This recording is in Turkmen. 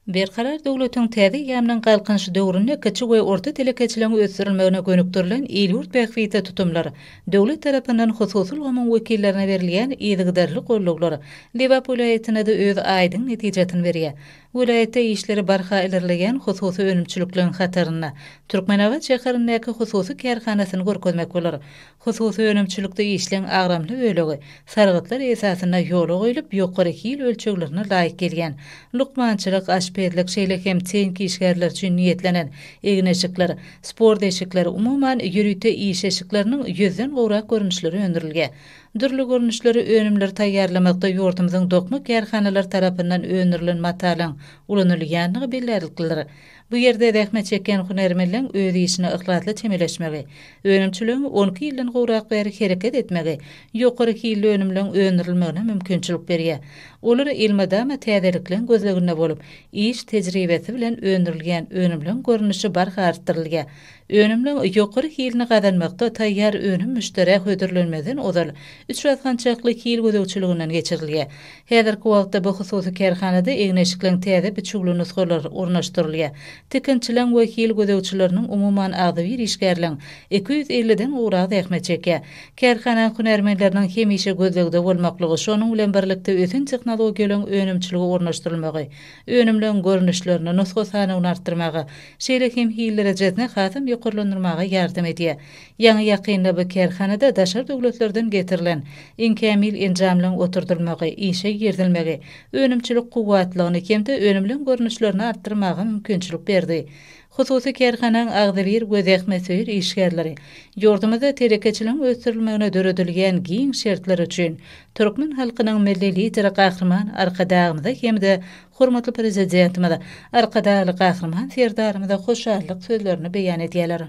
Berkarar döwletiň täze eýýamynyň Galkynyşy döwründe kiçi we orta telekeçiligiň ösdürilmegine gönükdirilen il-ýurt bähbitli tutumlar, döwlet tarapyndan hususy ulgamyň wekillerine berilýän yzygiderli goldawlar Lebap welaýatynda-da öz aýdyň netijesini berýär. Welaýatda işleri barha ilerleýän hususy önümçilikleň hatarynda Türkmenabat şäherindäki hususy kärhanasyny görkezmek bolar. Hususy önümçilikde işleň agramly bölegi sargytlar esasynda ýola goýlup, ýokary hil ölçeglerine laýyk gelýän, lukmançylyk, aşpezlik, şeýle hem teýink işgärleri üçin niýetlenen, egin-eşikler, sport eşikleri, umuman, ýörite iş eşikleriniň ýüzden gowrak görnüşleri öndürilge. Dürli görnüşleri önümleri taýýarlamakda ýurdumyzyň dokma kärhanalary tarapyndan öndürilen matalyň ulanylýandygy bellärliklidir. Bu ýerde zähmet çekýän hünärmenleň öz işine yhlasly çemeleşmegi, önümçiligiň on iki ýyldan gowrak bäri hereket etmegi ýokary hilli önümleň öndürilmegine mümkinçilik berýär. Olar elmydama täzelikleň gözleginde bolup, iş tejribesi bilen öndürilýän önümleň görnüşi barha artdyrylýar, Önüminiň ýokary hilini gazanmakda taýýar önüm müşderä hödürlenmezden ozal üç basgançakly hil gözegçiliginden geçirilýär. Häzirki wagtda bu hususy kärhanada egin-eşikleň täze biçüwli nusgalary ornaşdyrylýar. Tikinçileň we hil gözegçileriniň umuman agzybir işgärleň iki ýüz elliden gowragy zähmet çekýär. Kärhanaň hünärmenleriniň hemişe gözlegde bolmaklygy, şonuň bilen birlikde ösen tehnologiýalaryň önümçilige ornaşdyrylmagy, önümleň görnüşlerini, nusga sanawyny artdyrmaga, şeýle hem hillerejezini hasam ýokarlandyrmaga ýardam edýär. Ýaňy-ýakynda bu kärhanada daşary döwletlerden getirilen iň kämil enjamlaryň oturdylmagy, işe girizilmegi önümçilik kuwwatlygyny hem-de önümleň görnüşlerini artdyrmaga mümkinçilik berdi. Hususy kärhanaň agzybir we zähmetsöýer işgärleri ýurdumyzda telekeçiligiň ösdürilmegine döredilýän giň şertler üçin türkmen halkynyň Milli Lideri Gahryman Arkadagymyza hem-de hormatly Prezidentimiz Arkadagly Gahryman Serdarymyza hoşallyk sözlerini beýan edýärler.